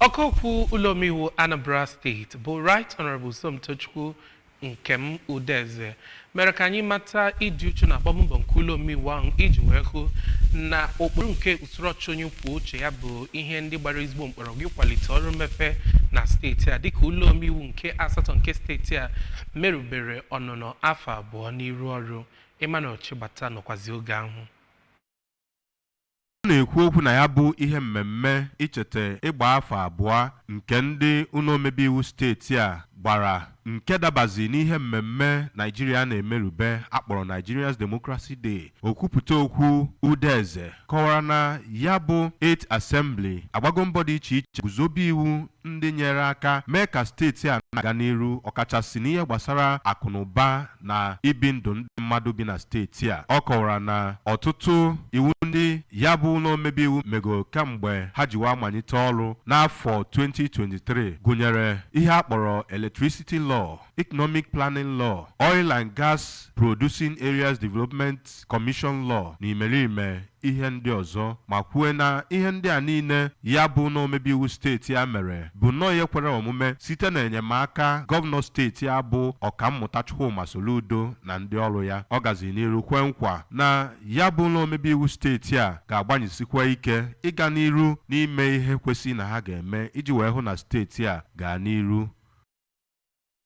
ọkaokwu ụlọomeiwu anambra steeti bụ right honorable somtochukwu nkem udeze mere ka anyị mata ịdị uchu na agbammbọ nke ụlọomeiwu ahụ iji wee hụ na ụkpụrụ nke usoro ọchịchị onye kwuo uche ya bụ ihe ndị gbara ezigbo mkpọrọgwụ ịkwalite ọrụ mmepe na steeti a dịka ụlọomeiwu nke asatọ nke steeti a merubere ọnụnọ afọ abụọ n'iru ọrụ Emmanuel Chigbata nọkwazi oge ahụ Ọ na-ekwu okwu na ya bụ ihe mmemme icheta ịgba afọ abụọ nke ndị ụlọ omebe iwu steeti a gbara nke dabazi n'ihe mmemme Naijiria na-emerube a kpọrọ Nigeria's Democracy Day okwupụta okwu Udeze kọwara na ya bụ 8th Assembly agbago mbọ dị iche iche guzobe iwu ndị nyere aka mee ka steeti a na-aga n'iru ọkachasị n'ihe gbasara akụnụba na ibi ndụ ndị mmadụ bi na steeti a. Ọ kọwara na ọtụtụ iwu ndị ya bụ ụlọ omebe iwu mego kamgbe ha ji wee manyite ọrụ n'afọ 2023 gụnyere ihe a kpọrọ Electricity Law, Economic Planning Law, Oil and Gas Producing Areas Development Commission Law na imerime ihe ndị ọzọ ma kwuo na ihe ndị a niile ya bụ ụlọ omebe iwu steeti a mere bụ nnọọ ihe kwere omume site n'enyemaka gọvanọ steeti a bụ Ọkammụta Chukwuma Soludo na ndị ọrụ ya. Ọ gaziri n'iru kwe nkwa na ya bụ ụlọ omebe iwu steeti a ga-agbanyesikwa ike ịga n'iru n'ime ihe kwesị na ha ga-eme iji wee hụ na steeti a gaa n'iru.